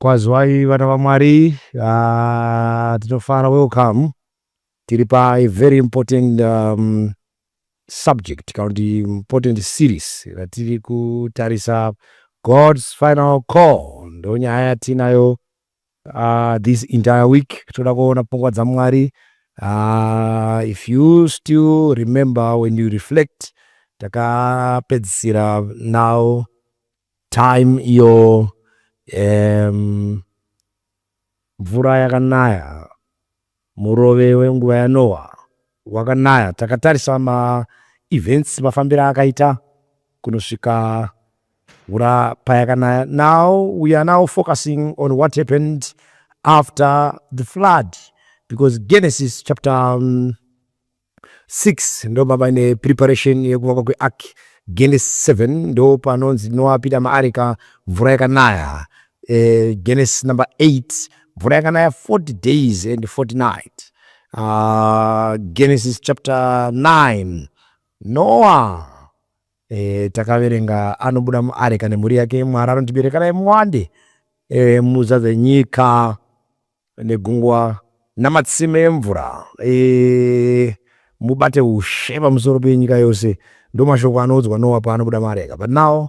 Kwazwai vana vaMwari, ah, tinofara welcome. Tiri pa a very important um, subject kana kuti important series ratiri kutarisa God's final call, ndonyaya yatinayo uh, this entire week toda kuona pfungwa dzamwari uh, if you still remember when you reflect takapedzisira now time iyo um, mvura yakanaya Murove wenguva yaNoa wakanaya. Takatarisa ma events mafambiro akaita kunosvika mvura payakanaya. Now we are now focusing on what happened after the flood because Genesis chapter um, 6 ndo mava nepreparation yekuvakwa kweark genesis 7 ndo panonzi noapita maarika mvura yakanaya eh, genesis number 8 mvura yakanaya 40 days and 40 night uh, ah, genesis chapter 9 noa eh, takaverenga anobuda muarika nemhuri yake mwari anondiberekanai muwande eh, muzadze nyika negungwa namatsime emvura e, mubate ushe pamusoro penyika yose ndomashoko anoudzwa nowa paanobuda muareka but now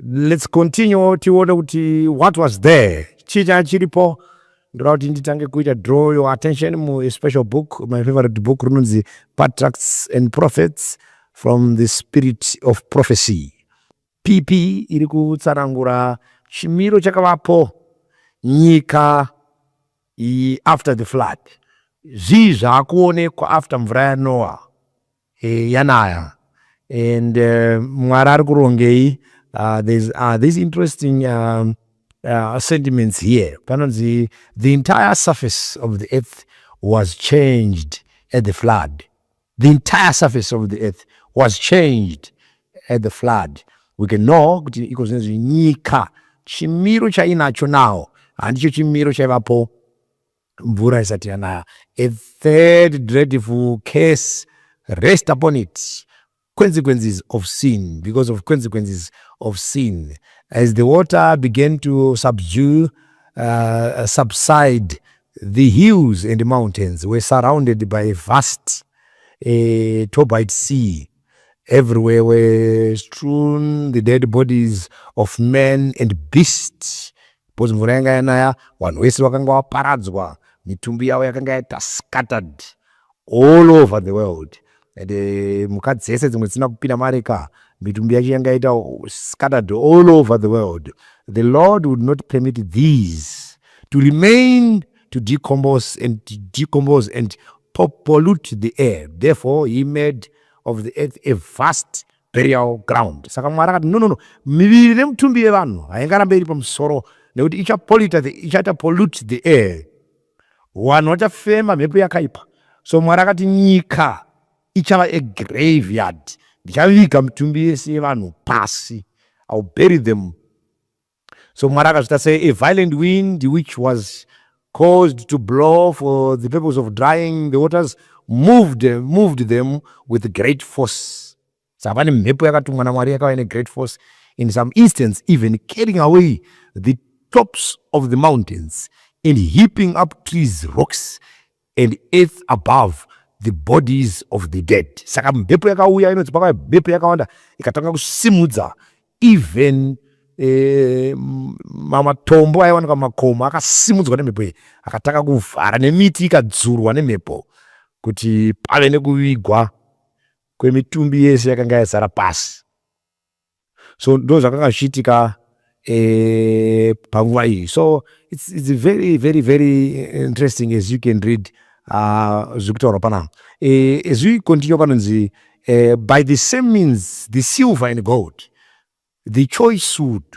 let's continue tione kuti what was there chii changa chiripo ndoda kuti nditange kuita draw your attention muspecial book my favorite book rinonzi patracts and prophets from the spirit of prophecy PP iri kutsanangura chimiro chakavapo nyika iyi after the flood. Zvii zvaakuonekwa after mvura yaNoah e, yanaya and uh, Mwari ari kurongei uh, there's uh, this interesting uh, uh, sentiments here panonzi the entire surface of the earth was changed at the flood The entire surface of the earth was changed at the flood. We can know kuti iko zvinezvi nyika chimiro chainacho now handicho chimiro chaivapo mvura isati yanaya. A third dreadful curse rest upon it consequences of sin because of consequences of sin as the water began to subdue uh, subside The hills and mountains were surrounded by a vast a turbid sea everywhere were strewn the dead bodies of men and beasts because mvura yanga yanaya vanhu vese vakanga vaparadzwa mitumbi yavo yakanga yaita scattered all over the world and uh, mhuka dzese dzimwe dzisina kupinda mari ka mitumbi yacho yanga yaita scattered all over the world the lord would not permit these to remain to decompose and decompose and pollute the air therefore he made of the earth a vast burial ground saka mwari akati no no no miviri nemutumbi yevanhu haingarambe iri pamusoro nekuti ichapolita ichaita pollute the air Wanhu wachafema mhepo yakaipa. So Mwari akati nyika ichava a graveyard. Ndichaviga mitumbi yese yevanhu pasi. I'll bury them. So Mwari akazvita se a violent wind which was caused to blow for the purpose of drying the waters moved, moved them with great force. dzava nemhepo yakatumwa naMwari yakauya negreat force in some instance even carrying away the tops of the mountains and heaping up trees rocks and earth above the bodies of the dead saka mhepo yakauya inonzi pakauya mhepo yakawanda ikatanga kusimudza even eh, mamatombo aiwanika mumakomo akasimudzwa nemhepo iyi akatanga kuvhara nemiti ikadzurwa nemhepo kuti pave nekuvigwa kwemitumbi yese yakanga yazara pasi so ndo zvakanga zvichiitika eh, panguva iyi so it's, it's very very very interesting as you can read uh, zviri kutaurwa panapa eh, as we continue panonzi eh, by the same means the silver and gold the choice wood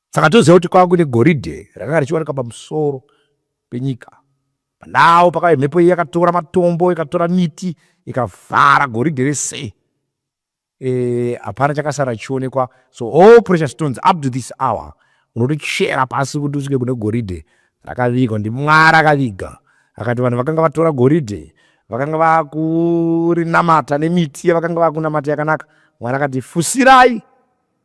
Saka toziva kuti kwava kuine goridhe rakanga richiwanika pamusoro penyika. Pandawo pakauya mhepo iyi yakatora matombo, ikatora miti, ikavhara goridhe rese. Eh, hapana chakasara chichionekwa. So all precious stones up to this hour unotochera pasi kuti usvike kune goridhe rakavigwa ndimwari akaviga akati vanhu vakanga vatora goridhe vakanga vakurinamata nemiti yavakanga vakunamata yakanaka mwari akati fusirai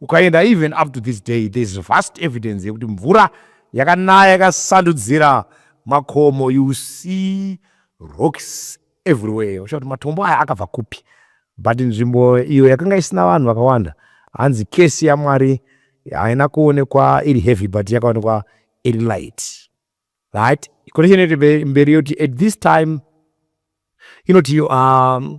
ukaenda even up to this day there is vast evidence yekuti mvura yakanaya yakasandudzira makomo you see rocks everywhere uchiva kuti matombo aya akabva kupi but nzvimbo iyo yakanga isina vanhu vakawanda hanzi kesi yamwari haina kuonekwa iri heavy but yakaonekwa iri light right connection yekuti mberi yoti at this time inoti um,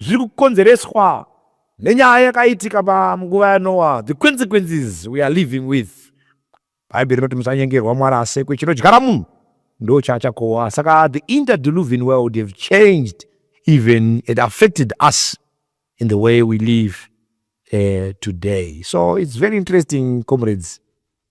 zviri kukonzereswa nenyaya yakaitika panguva yaNoa, the consequences we are living with. Bhaibheri rinoti musanyengerwa, Mwari asekwe, chinodyara munhu ndo chaachakohwa. Saka the interdeluvian world have changed even it affected us in the way we live uh, today. So it's very interesting, comrades.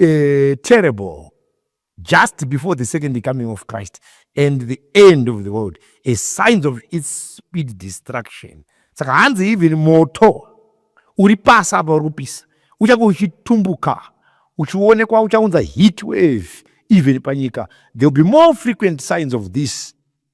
uh, terrible just before the second coming of Christ and the end of the world as signs of its speed destruction. Saka hanzi even moto uri pasi apa uri kupisa uchange uchitumbuka uchionekwa uchaunza heat wave even panyika there will be more frequent signs of this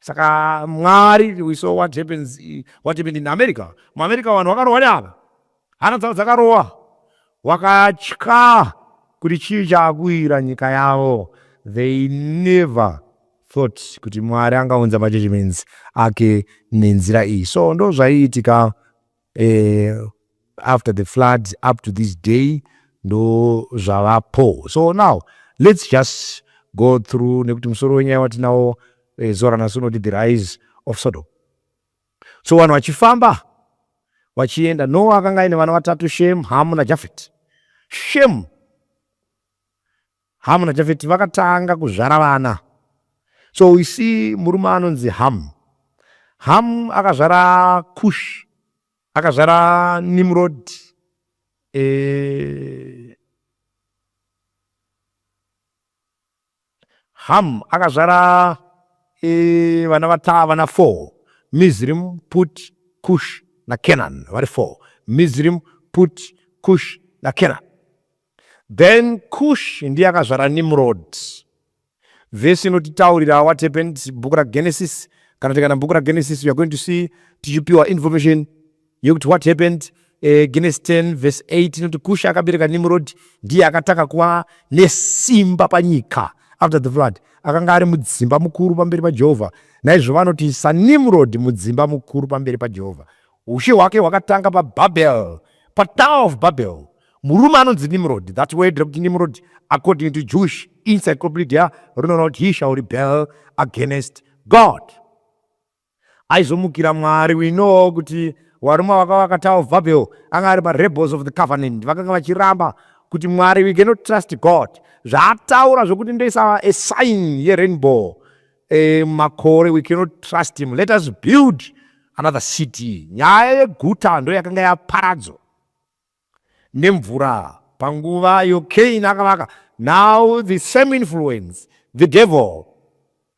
saka mwari we saw what happens what happened in america muamerica vanhu vakarohwa neava hana dzavo dzakarohwa wakatya kuti chii chaakuira nyika yavo they never thought kuti mwari angaunza majudgments ake nenzira iyi so ndo zvaiitika uh, after the floods up to this day ndo zvavapo so now let's just go through nekuti musoro wenyaya watinawo uh, eh, zora nasi unoti the rise of sodom so vanhu vachifamba vachienda noa akanga aine vana vatatu shem hamu najafet shem Hamu naJafeti vakatanga kuzvara vana. So we see murume anonzi Hamu. Hamu akazvara Kush, akazvara Nimrod, eh, Hamu akazvara eh, vana vata vana four Mizrim, Put, Kush naKenan vari four Mizrim, Put, Kush naKenan Then Kush ndiye akazvara Nimrod. Vhesi inotitaurira what happened bhuku raGenesis. Kana tikana bhuku raGenesis we are going to see tichipiwa information yekuti what happened eh, Genesis 10 verse 8 inoti Kush akabereka Nimrod ndiye akatanga kuva nesimba panyika after the flood akanga ari mudzimba mukuru pamberi pajehovha naizvo vanoti sanimrod mudzimba mukuru pamberi pajehovha ushe hwake hwakatanga pababel patower of babel Murume anonzi Nimrod, that word rekuti Nimrod according to Jewish encyclopedia rinoona kuti he shall rebel against God. Aizomukira Mwari, we know kuti varume vakava vakatawo Babel anga ari marebels of the covenant, vakanga vachiramba kuti Mwari we cannot trust God. Zvaataura zvekuti ndoisa a sign yerainbow eh, makore we cannot trust him, let us build another city. Nyaya yeguta ndoyakanga yaparadzo nemvura panguva iyo Cain akavaka. Now the same influence, the devil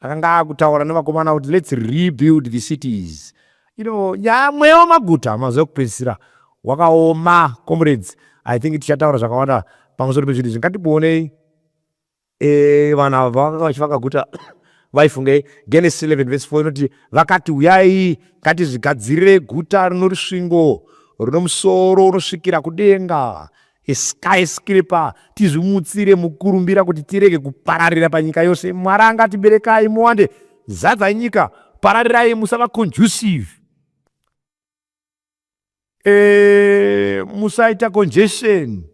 akanga akutaura nevakomana kuti let's rebuild the cities. You know, nyaya mweya wemaguta mazuva ekupedzisira wakaoma comrades. I think tichataura zvakawanda pamusoro pezvinhu izvi. Ngatikuonei. Eh, vanhu ava vanga vachivaka guta vaifungei genesis 11 vese 4 inoti vakati uyai ngatizvigadzirire guta rino rusvingo runo musoro unosvikira kudenga skyscraper tizvimutsire mukurumbira kuti tirege kupararira panyika yose mwari angatiberekai muwande zadzai nyika pararirai musava conducive Eh, musaita congestion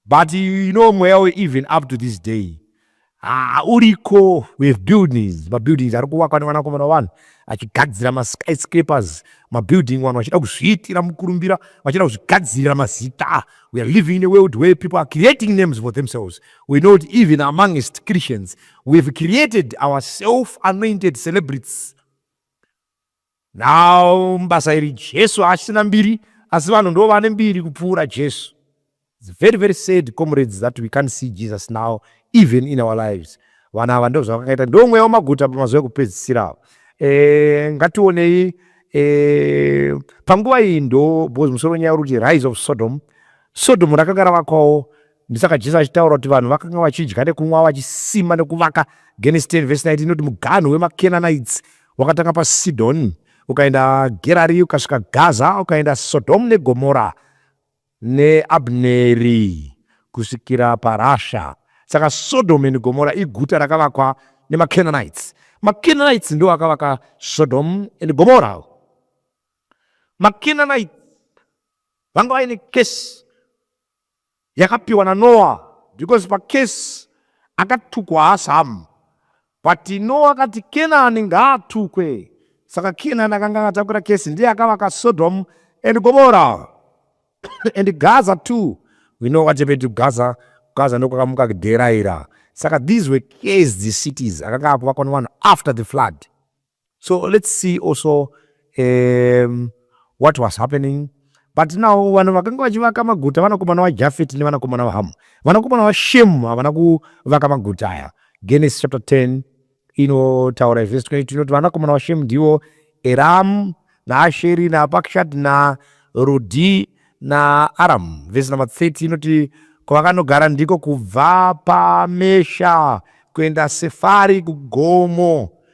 but you know mweya even up to this day ah, uriko with buildings mabuildings ari kuvakwa nevanakomana vanhu achigadzira maskyscrapers mabuilding vanhu vachida kuzviitira mukurumbira vachida kuzvigadzirira mazita we are living in a world where people are creating names for themselves we know that even amongst christians we have created our self anointed celebrities Now mubasa iri Jesu haasina mbiri asi vanhu ndo vane mbiri kupfuura Jesu. It's very very sad comrades that we can't see Jesus now even in our lives. Vana ava ndo zvavakaita ndo mweya wamaguta pamazuva ekupedzisira ava. Eh ngationei eh panguva iyi ndo because musoro nyaya uri kuti rise of Sodom. Sodom rakanga ravakwawo Ndisaka Jesu achitaura kuti vanhu vakanga vachidya nekunwa vachisima nekuvaka. Genesis 10 vhesi 19 inoti muganhu wemaKenanaites wakatanga paSidhoni ukaenda Gerari ukasvika Gaza ukaenda Sodhomu neGomora neAbneri kusvikira paRasha. Saka Sodhomu and Gomora iguta rakavakwa nemaKenanaites. MaKenanaites ndiwo akavaka Sodhomu and Gomora. MaKenanaites vanga vaine kesi yakapiwa naNoah because pacase akatukwa haasi hamu but Noah akati Kenani ngaatukwe saka Kenani akanga akatakura case ndiye akavaka Sodom and Gomorrah and Gaza too we know what happened to Gaza Gaza ndokwakamuka kuderaira saka these were case the cities akanga akuvakwa nevanhu after the flood So let's see also um, what was happening but now vanhu vakanga vachivaka maguta vanakomana vajafet nevanakomana vahamu vanakomana vashem havana kuvaka maguta aya genesis chapter 10 inotaura izvese tikaiti inoti vanakomana vashem ndivo eram naasheri napakshat narudhi naaram vese number 30 inoti kwavakanogara ndiko kubva pamesha kuenda sefari kugomo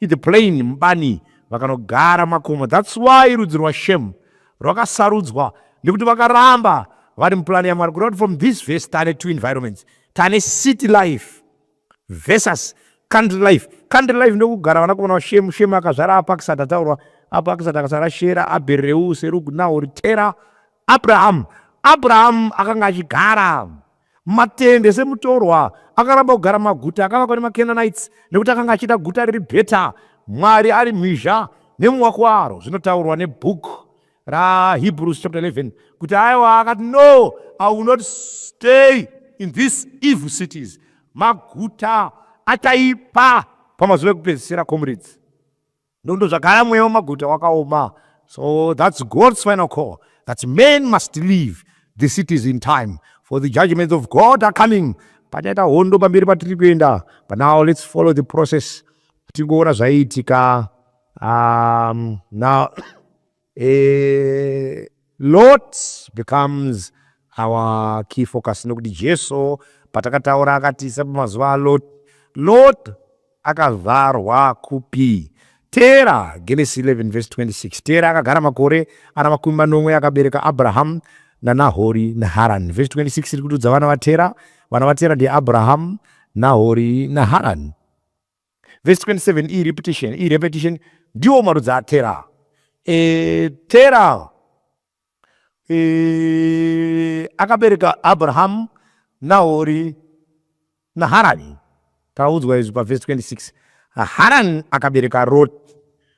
It's plain mubani vakanogara makomo that's why rudzi rwashem rwakasarudzwa nekuti vakaramba vari muplan yamwari kureva kuti from this verse tane two environments tane city life versus country life country life ndokugara vanakomana vashem shem akazvara apa akisati ataurwa apa akisati akazvara shera abereu serugu nahori tera abraham abraham akanga achigara Matende semutorwa akaramba kugara maguta akavakwa nemaCanaanites nekuti akanga achida guta riri better, Mwari ari mhizha nemuvako waro, zvinotaurwa nebook raHebrews chapter 11 kuti aiwa akati no I will not stay in these evil cities, maguta achaipa pamazuva ekupedzisira. Comrades, Ndondo zvagara mweya wemaguta wakaoma. So that's God's final call that men must leave the cities in time for the judgments of God are coming. Pachaita hondo pamberi patiri kuenda. But now let's follow the process. Tingoona zvaiitika. Um, now A lot becomes our key focus nokuti Jesu patakataura akati sepamazuva aLot, Lot akazvarwa kupi? Tera, Genesis 11 verse 26. Tera akagara makore ana makumi manomwe akabereka Abrahamu naNahori naHarani. Verse 26 iri kutudza vana vaTera. Vana vaTera ndiAbrahamu, Nahori naHarani. Verse 27 iyi repetition, iyi repetition ndiwo marudzi atera. E, tera e, akabereka Abrahamu Nahori naHarani. Taudzwa izvi paverse 26. Harani akabereka Roti.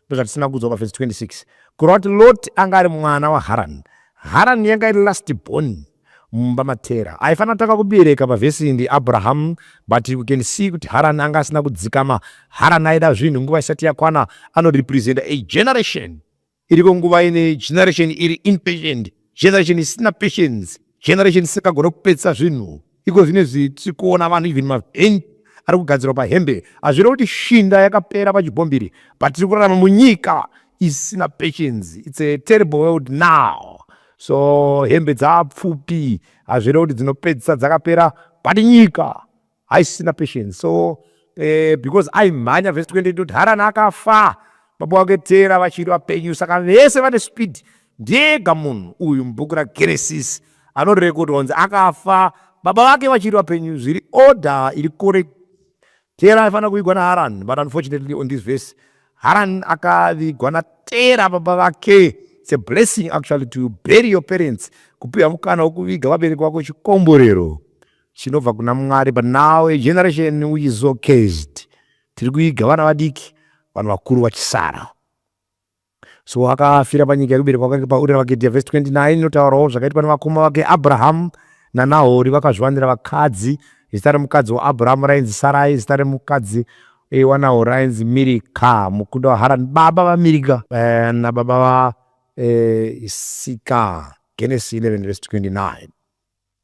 ndozvatisina kudzwa pavhesi 26 kureva kuti loti anga ari mwana waharani harani yanga iri last born mumba matera aifanira kutanga kubereka pavhesi iyi ndiabrahamu but you can see kuti harani anga asina kudzikama harani aida zvinhu nguva isati yakwana anorepresenta a generation iriko nguva ine generation iri impatient generation isina patience generation isikagona kupedzisa zvinhu iko zvine zvitsi kuona vanhu even mavhen ari kugadzirwa pahembe hazvire kuti shinda yakapera pachibhombiri but tiri kurarama munyika isina patience its a terrible world now so hembe dzapfupi hazvire kuti dzinopedzisa dzakapera but nyika haisisina patience so eh, because aimhanya vese 20 ndoti harani akafa baba wake tera vachiri vapenyu saka vese vane speed ndega munhu uyu mubhuku ragenesis anorekodwa kunzi akafa baba vake vachiri vapenyu zviri order iri kore tera aifanira kuvigwa naharan but unfortunately on this verse haran akavigwa natera baba vake its a blessing actually to bury your parents kupiwa mukana wokuviga vabereki vako chikomborero chinobva kuna mwari but now a generation which is so cased tiri kuiga vana vadiki vanhu vakuru vachisara so akafira panyika yekuberekwa kwake paurira vake dhia vhesi 29 inotaurawo zvakaitwa nevakoma vake abrahamu nanahori vakazviwanira vakadzi zita remukadzi waabhurahamu rainzi sarai zita remukadzi eh, wanawo rainzi mirika mukunda waharani baba vamirika eh, nababa vaisika eh, genesi 11 vesi 29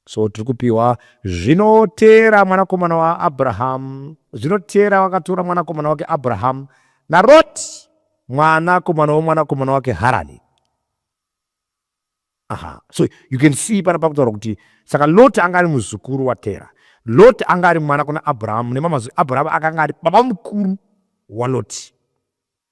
So tiri kupiwa zvino Tera mwanakomana waAbrahamu, zvino Tera wakatora mwanakomana wake Abrahamu naRoti mwanakomana womwanakomana wake Harani. Aha, so you can see pana pakutaura kuti saka Loti anga ari muzukuru waTera. Loti anga ari mwana kuna Abrahamu nemamazwi Abrahamu akanga ari baba mukuru waLoti.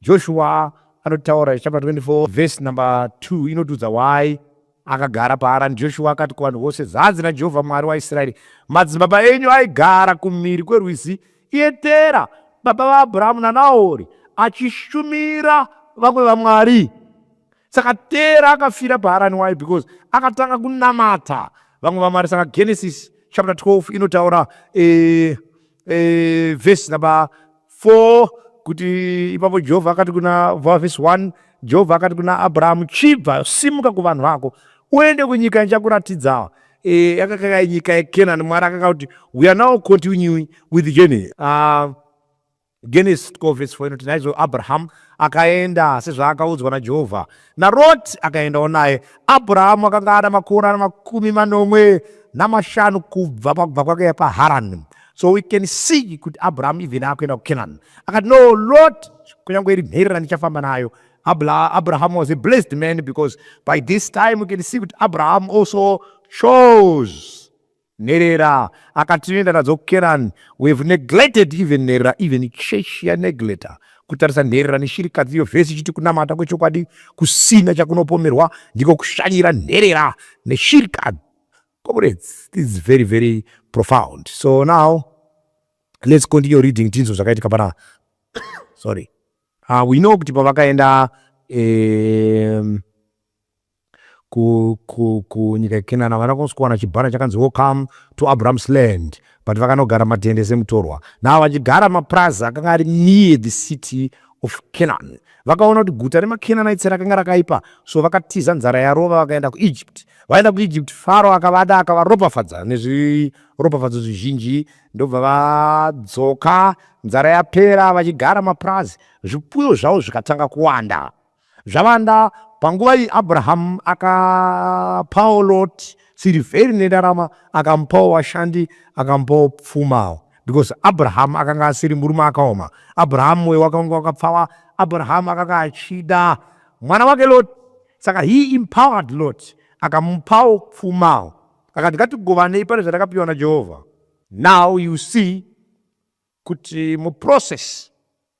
Joshua anotaura chapter 24 verse number 2 inotiudza why akagara paharani joshua akati kuvanhu vose zvanzi najehovha mwari waisraeri madzibaba enyu aigara kumhiri kwerwizi ietera baba vaabrahamu nanahori achishumira vamwe vamwari saka tera akafira paharani why because akatanga kunamata vamwe vamwari saka genesis chapter 12 inotaura eh, e, vhesi number 4 kuti ipapo jehovha akati kuna vhesi 1 jehovha akati kuna abrahamu chibva simuka kuvanhu vako uende kunyika ndichakuratidzawa e, yakakaka nyika yekenani mwari akaka kuti we are now continuing with journey uh, genesis 12 vhesi 4 inoti naizvo abrahamu akaenda sezvaakaudzwa najehovha naRoti akaendawo naye. Abhurahamu akanga ana makore ana makumi manomwe namashanu kubva pakubva kwake paharani so we can see kuti abhurahamu even akuenda kucanaan akati no lot kunyange iri mheri randichafamba nayo abraham was a blessed man because by this time we can see kuti abraham also chose nherera akatienda nadzo kukeran we have neglected even nherera even church yanegleta kutarisa nherera neshirikadzi iyo vhesi ichiti kunamata kwechokwadi kusina chakunopomerwa ndiko kushanyira nherera neshirikadzi comrades this is very very profound so now let's continue reading tinzwe zvakaitika pana sorry uh, we know kuti pavakaenda um, ku, ku, kunyika yeKenana vana kunzi kuwana chibhana chakanzi welcome to Abraham's land but vakanogara matende semutorwa navo vachigara mapurazi akanga ari near the city of Canaan. Vakaona kuti guta remaKenanaitsi rakanga rakaipa, so vakatiza nzara yarova vakaenda kuEgypt. Vaenda kuEgypt, Faro akavada akavaropafadza nezviropafadzo zvizhinji, ndobva vadzoka nzara yapera vachigara mapurazi, zvipfuyo zvavo zvikatanga kuwanda. Zvavanda, panguva iyi Abrahamu akapawo Loti sirivheri nendarama, akamupawo vashandi, akamupawo pfumawo because Abrahamu akanga asiri murume akaoma. Abrahamu mwoyo wake wanga wakapfava. Abrahamu akanga achida mwana wake Loti, saka he empowered Loti, akamupawo pfumawo, akati ngatigovanei pane zvatakapiwa naJehovha. Now you see kuti muprocess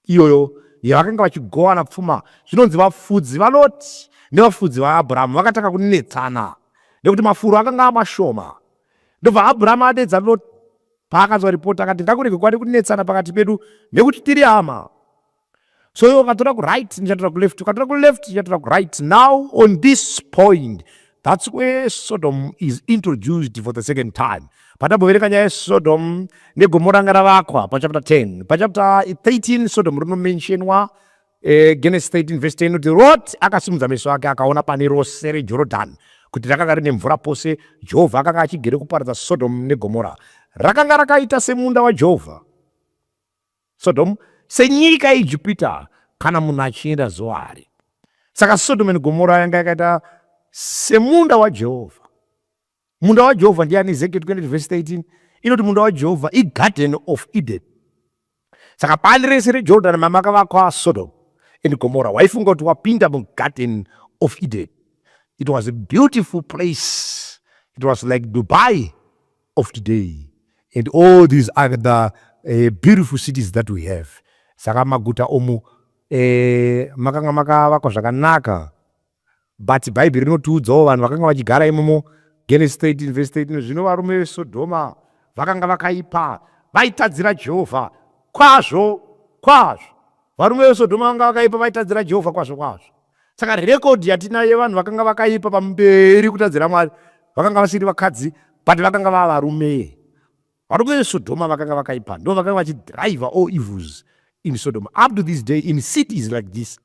iyoyo yavakanga vachigovana pfuma zvinonzi vafudzi valoti nevafudzi vaabhurahamu vakatanga kunetsana nekuti mafuro akanga amashoma ndobva abhurahamu adedza loti paakanzwa ripoti akati ngakurege kwari kunetsana pakati pedu nekuti tiri hama So iwe ukatora kuright ndichatora kuleft, ukatora kuleft ndichatora kuright. Now on this point that's where Sodom is introduced for the second time. Patamboverenga nyaya yeSodom negomo ranga ravakwa pachapter 10. Pachapter 13 Sodom rinomentionwa eh, Genesis 13 verse 10 kuti Lot akasimudza meso ake akaona pane rose reJorodhani kuti rakanga rine mvura pose. Jehovha akanga achigere kuparadza Sodom neGomora. Rakanga rakaita semunda waJehovha. Sodhomu senyika yeIjipita kana munhu achienda Zoari. Saka Sodhomu neGomora yanga yakaita semunda waJehovha. Munda waJehovha ndiani? Ezekiel 20 vhesi 13 inoti munda waJehovha iGarden of Eden. Saka pani rese reJordan mamakavakwa Sodhomu and Gomora waifunga kuti wapinda muGarden of Eden. It was a beautiful place. It was like Dubai of today and all these other uh, eh, beautiful cities that we have saka maguta omu eh, makanga makavakwa zvakanaka but bhaibheri rinotiudzawo vanhu vakanga vachigara imomo genesis 13 vese 13 zvino varume vesodhoma vakanga vakaipa vaitadzira jehovha kwazvo kwazvo varume vesodhoma vanga vakaipa vaitadzira jehovha kwazvo kwazvo saka rekodhi yatinayo yevanhu vakanga vakaipa pamberi kutadzira mwari vakanga vasiri vakadzi but vakanga vava varume varume vesodhoma vakanga vakaipa ndo vakanga vachidriver all evils in sodoma up to this day in cities like this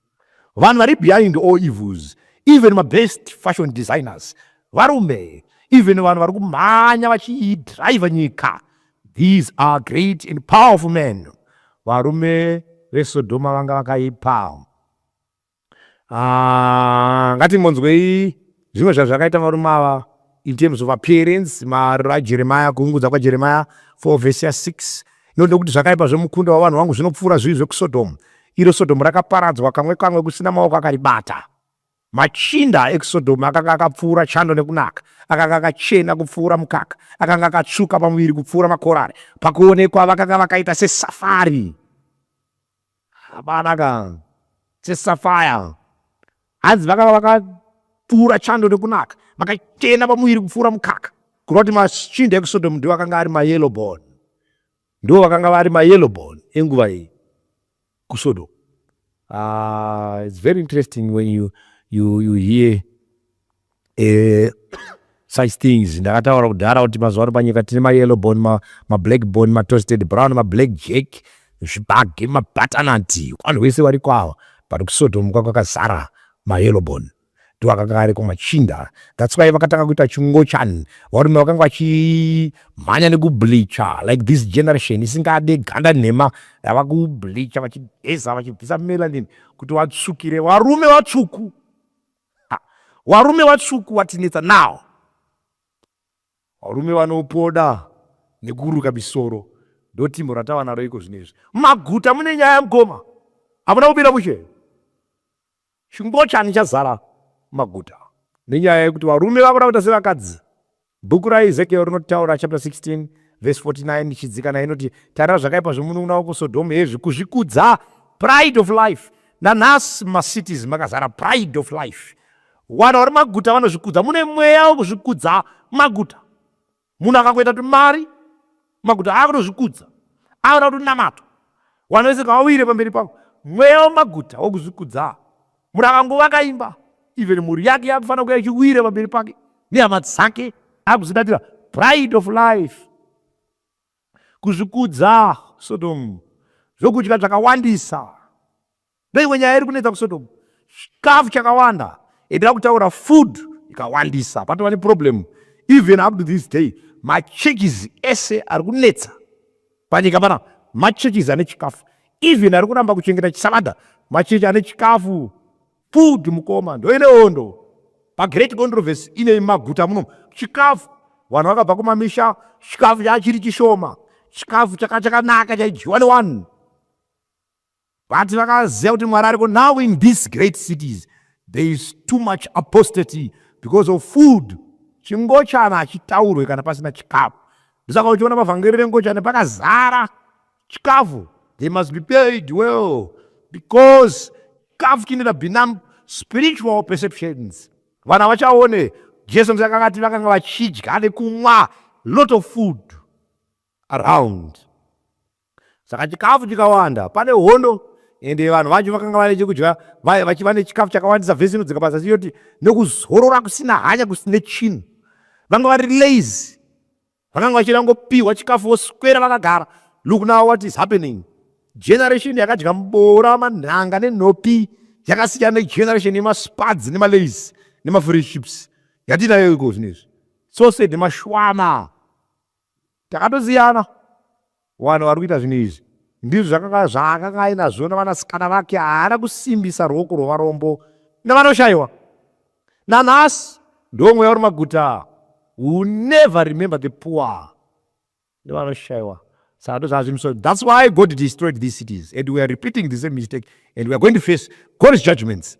vanhu vari behind all evils even mabest fashion designers varume even vanhu vari kumhanya vachidriver nyika these are great and powerful men varume vesodhoma vanga vakaipa Ah, ngatimbonzwei zvimwe zvazvakaita varume ava in terms of appearance mariro ajeremaya kuungudza kwajeremaya 4 vhesi ya 6 inoda kuti zvakaipa zvemukunda wavanhu vangu zvinopfuura zvivi zvekusodomu iro sodomu rakaparadzwa kamwe kamwe kusina maoko akaribata machinda ekusodomu akanga akapfuura chando nekunaka akanga akachena kupfuura mukaka akanga akatsvuka pamuviri kupfuura makorari pakuonekwa vakanga vakaita sesafari Hapana ka seSapphire hanzi vakava vakatura chando nekunaka vakachena pamuviri kupfuura mukaka kureva kuti machinda ekuSodom ndiwo akanga ari mayellow born ndiwo vakanga vari mayellow born enguva iyi kuSodom uh, it's very interesting when you, you, you hear eh, such things ndakataura kudhara kuti mazuva ano panyika tine mayellow bone ma, mablack bone matoasted brown mablack jack zvibage mabatanati vanhu vese variko ava but kusotomuka kwakazara mayellow bone ndovakanga variko machinda that's why vakatanga kuita chingochani varume vakanga vachimhanya nekubleacha like this generation isingade ganda nhema yava kubleacha vachigeza vachibvisa melanin kuti vatsvukire varume vatsvuku Ha, warume watsvuku watinetsa now. Varume vanopoda nekuruka misoro ndotimbo ratava naro iko zvino izvi. Maguta mune nyaya mukoma. Hamuna kubira mushe. Chingochani chazara maguta nenyaya yekuti varume vakuda kuita sevakadzi. Bhuku raEzekieri rinotaura, chapter 16 verse 49 ichidzika nayo inoti, Tarira zvakaipa zvomunun'una wako Sodhomu, hezvi kuzvikudza, pride of life. Nanhasi mumacities makazara pride of life. Vanhu vari maguta vanozvikudza, mune mweya wekuzvikudza maguta. Munhu akangoita tumari Maguta akutozvikudza akuda kutonamata vanhu vese ngavawire pamberi pavo mweya wemaguta wokuzvikudza munhu akangova akaimba even mhuri yake yakufanira kuya ichiwira pamberi pake nehama dzake akuzidatira pride of life kuzvikudza sodomu zvokudya zvakawandisa Ndoimwe nyaya iri kunetsa kuSodom. Chikafu chakawanda endira kutaura food ikawandisa patova neproblem even up to this day machurches ese ari kunetsa panyika pana machurches ane chikafu even ari kuramba kuchengeta chisavadha machechi ane chikafu food mukoma ndoine hondo pagreat controversy ine maguta muno chikafu vanhu vakabva kumamisha chikafu chachiri chishoma chikafu chakanaka chaidyiwa newanhu But vakaziva kuti Mwari ariko now in these great cities there is too much apostasy because of food. Chingochana hachitaurwe kana pasina chikafu. Ndosaka uchiona mavhangeri rengochana pakazara chikafu. They must be paid well because chikafu chinoita binam spiritual perceptions. Vana vachaone Jesu msaka akati vakanga vachidya nekumwa lot of food around. Saka chikafu chikawanda pane hondo ende vanhu vacho vakanga vane chekudya vachiva nechikafu chakawandisa vhesi inodzoka pasi achiyoti nekuzorora kusina hanya kusine chinhu vanga vari lazy vakanga vachida kungopihwa chikafu voswera vakagara look now what is happening generation yakadya mboora manhanga nenhopi yakasiyana negeneration yemaspads nemalazy nemafriships yatinayo iko zvinezvi so said mashwana Takatosiyana vanhu vari kuita zvinhu izvi ndizvo zvakanga zvaakanga ainazvo nevanasikana vake haana kusimbisa ruoko rwevarombo nevanoshaiwa nanhasi ndo mweya uri maguta who never remember the poor nevanoshaiwa saka ndozvazvimiso thats why god destroyed these cities and weare repeating the same mistake and weare going to face god's judgments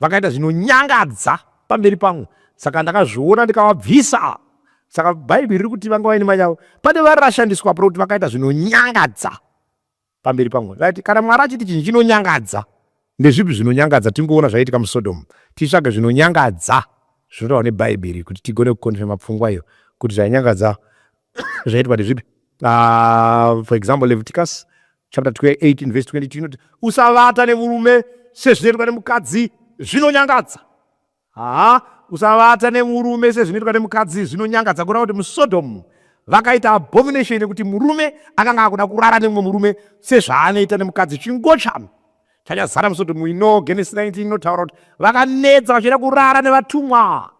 Vakaita zvinonyangadza pamberi pangu saka ndakazviona ndikavabvisa. Saka Bhaibheri riri kuti vanga vaine mai avo pane vari rashandiswa pari kuti vakaita zvinonyangadza pamberi pangu. Right? Kana Mwari achiti chinhu chinonyangadza, ndezvipi zvinonyangadza? Tingoona zvaiitika muSodom, titsvage zvinonyangadza zvinotaurwa neBhaibheri kuti tigone kukonfema pfungwa iyo kuti zvainyangadza zvaitwa kuti zvipi ah, for example leviticus chapter 28 verse 22 inoti usavata nemurume sezvinoitwa nemukadzi zvinonyangadza haa usavata nemurume sezvinoitwa nemukadzi zvinonyangadza kureva kuti musodomu vakaita abomination yekuti murume akanga akuda kurara nemumwe murume sezvaanoita nemukadzi chingochano chanyazara musodomu ino genesis 19 inotaura kuti vakanetsa vachienda kurara nevatumwa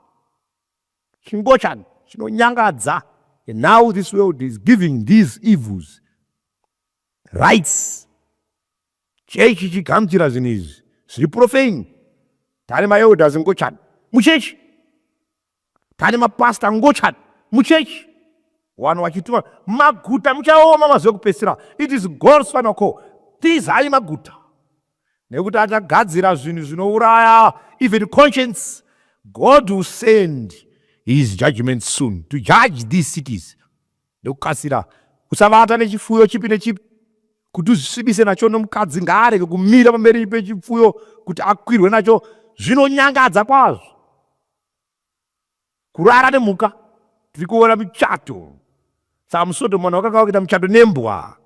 Chingochani chinonyangadza. And now this world is giving these evils rights. Chechi chigamuchira zvinhu izvi zviri profane. Tane maelders ngochani muchechi. Tane mapastor ngochani muchechi. Wano wachituma maguta muchaoma mazuva kupesira. It is God's final call. Tizai maguta. nekuti achagadzira zvinhu zvinouraya even conscience god will send his judgment soon to judge these cities nekukasira usavata nechifuyo chipi nechipi kuti uzvisvibise nacho nomukadzi ngaarege kumira pamberi pechipfuyo kuti akwirwe nacho zvinonyangadza kwazvo Kurara nemhuka tiri kuona muchato saka musodomu vanhu vakanga vakuita muchato nembwa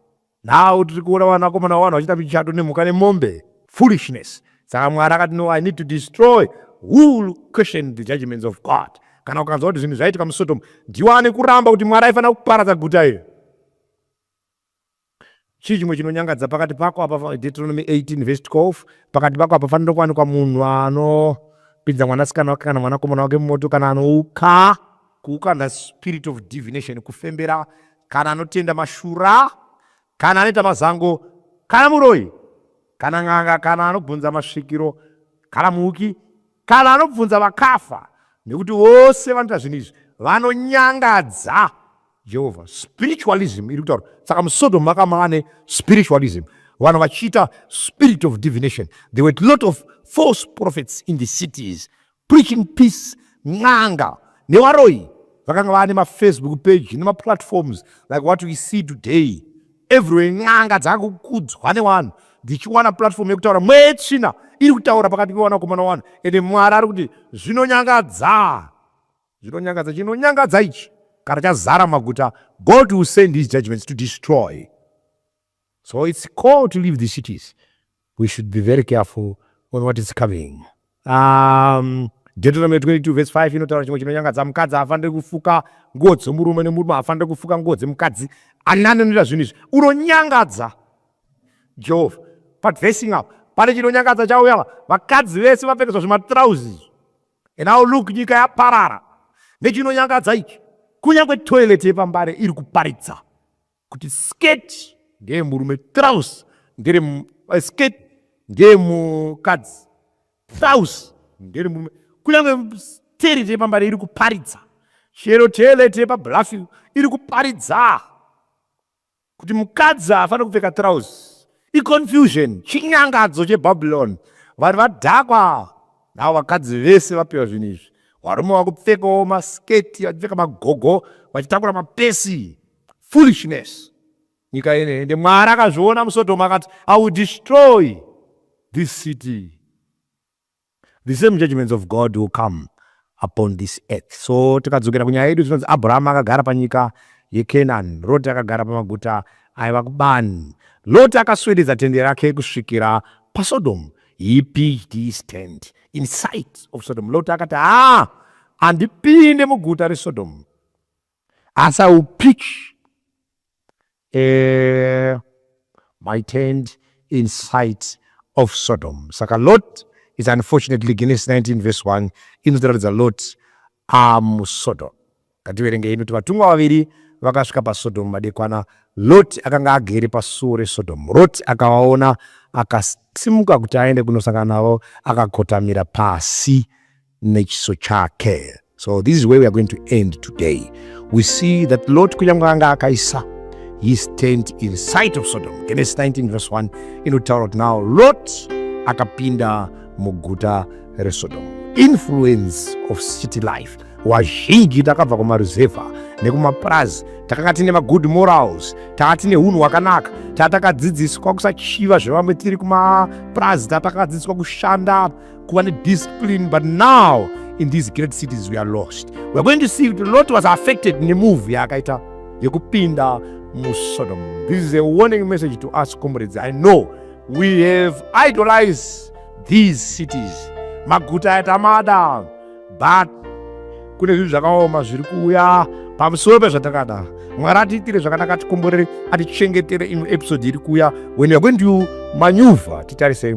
now tiri kuona vanakomana vavanhu vachiita muchato nemhuka nemombe foolishness saka mwari akati no i need to destroy whole question the judgments of god kana ukanzwa kuti zvinhu zvaitika musodomu ndiwane kuramba kuti mwari aifanira kuparadza guta iri Chii chimwe chinonyangadza pakati pako apa? Deuteronomy 18 verse 12 pakati pako apa fanira kuwanikwa munhu anopinza mwanasikana wake kana mwanakomana wake mumoto kana anouka kuukanda spirit of divination kufembera kana anotenda mashura kana anoita mazango kana muroyi kana n'anga kana anobvunza masvikiro kana muuki kana anobvunza vakafa nekuti vose vanoita zvinhu izvi vanonyangadza Jehovha. Spiritualism iri kutaura saka muSodom makama ane spiritualism vanhu vachiita spirit of divination there were a lot of false prophets in the cities preaching peace n'anga nevaroyi vakanga vaane mafacebook page nemaplatforms like what we see today everywhere n'anga dzakukudzwa nevanhu dzichiwana platform yekutaura mwetsvina iri kutaura pakati pevanakomana vanhu ende mwari ari kuti zvinonyangadza Zvinonyangadza chinonyangadza ichi kana chazara maguta God will send his judgments to destroy so it's call to leave the cities we should be very careful on what is coming um, Deuteronomy 22 verse 5 inotaura chimwe chinonyangadza mukadzi haafanire kufuka nguo dzomurume nemurume haafanire kufuka nguo dzemukadzi ani anonoita zvinhu izvi unonyangadza jehovha but facing up pane chinonyangadza chauya vakadzi vese vapfekeswa zvematrauzi izvi And now look nyika yaparara nechinonyangadza ichi kunyange toilet yepambare iri kuparidza kuti skirt ndeye murume trouse ndere eh, skirt ndeye mukadzi trouse ndere murume kunyange toilet yepambare iri kuparidza chero toilet yepabluffil iri kuparidza Kuti mukadzi haafane kupfeka trouse iconfusion chinyangadzo chebabylon vanhu vadhakwa navo vakadzi vese vapiwa zvinhu izvi varume vakupfekawo masketi vachipfeka magogo vachitakura mapesi foolishness nyika ine ende mwari akazviona musodhomu akati i will destroy this city the same judgments of God will come upon this earth. So tikadzokera kunyaya yedu tinonzi Abraham akagara panyika yeKenani, Lot akagara pamaguta aiva kubani. Lot akaswededza tende rake kusvikira paSodom. He pitched his tent in sight of Sodom. Lot akati, ah, andipinde muguta reSodom. As I will pitch Eeh my tent in sight of Sodom. Saka Lot is unfortunately Genesis 19 verse 1 inotiratidza Lot amuSodom. Ngativerengei inoti vatumwa vaviri vakasvika paSodom madekwana. Lot akanga agere pasuo reSodom. Lot akavaona akasimuka kuti aende kunosangana navo akakotamira pasi. nechiso chake so this is where we are going to end today we see that lot kunyange anga akaisa his tent in sight of sodom genesis 19 verse 1 inotaura kuti now lot akapinda muguta resodom influence of city life wazhinji takabva kumaruzevha nekumapurazi takanga tine magood morals taa tine unhu hwakanaka taa takadzidziswa kusachiva zvevamwe tiri kumapurazi taa takadzidziswa kushanda kuva nediscipline but now in these great cities we are lost weare going to see kuti lot was affected nemove yaakaita yekupinda musodom this is a warning message to us comrades i know we have idolized these cities maguta aya tamada but kune zvinhu zvakaoma zviri kuuya pamusoro pezvatakada mwari atiitire zvakanaka atikomborere atichengetere imwe episode iri kuuya when youare going to manyuvha titarisei